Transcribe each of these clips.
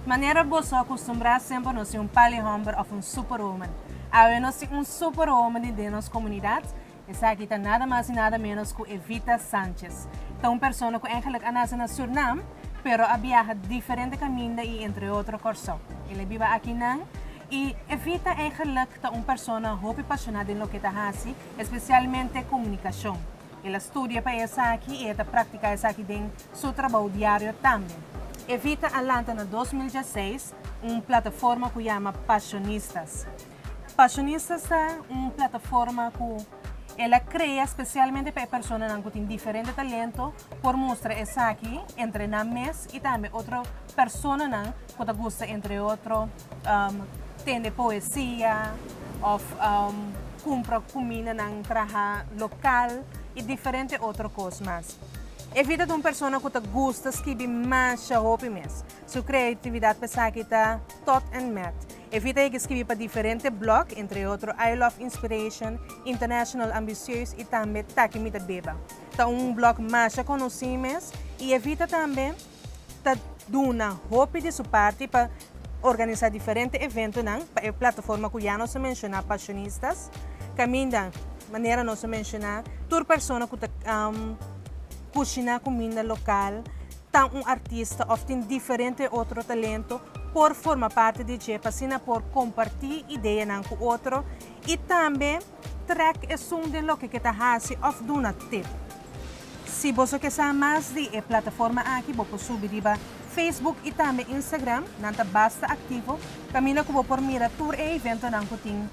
Manera boso a kustumbrá semper nos tin un pali hòmber òf un súper hòmber. Awe nos tin un súper hòmber den nos komunidat. Esaki ta nada mas y nada menos cu Evita Sanchez. Ta un persona cu eigenlijk a nace na Surnam, pero a biaha diferente caminda y entre otro Corsou. El a biba aki nan. Y Evita eigenlijk ta un persona hopi pasiona den loke ta haci, especialmente comunicacion. El a studia pa esaki y e ta practica esaki den su trabou diario tambe. Evita a lanta na dos mil diesseis un plataforma cu yama Pasionistas. Fashionistas ta un plataforma ku el a krea spesialmente pa e personanan ku tin diferente talento por mustra esaki entre nan mes i tambe otro personanan ku ta gusta entre otro tende poesia òf kumpra kuminda nan traha lokal i diferente otro kos mas. Evita ta un persona ku ta gusta skibi masha hopi mes. Su kreatividat pa esaki ta tòt en mèt Evita a yega skibi pa diferente blog, entre otro I Love Inspiration, International Ambicieus y tambe Taki Mi Ta Beba. Ta un blog masha conoci mes y Evita tambe ta duna hopi di su parti pa organisa diferente eventonan pa e plataforma cu ya nos a menciona, Pasionistas, caminda manera nos a menciona tur persona cu ta cushina cuminda local, ta un artista of tin diferente otro talento por forma parte di dje pa asina por comparti ideanan cu otro y tambe trek esun den loke ke ta haci of duna tip. Si boso ke sa mas di e plataforma aki bo por subi riba Facebook y tambe Instagram, nan ta basta activo caminda cu bo por mira tur e eventonan cu tin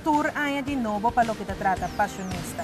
tur aña di nobo pa loke ta trata Pasionista.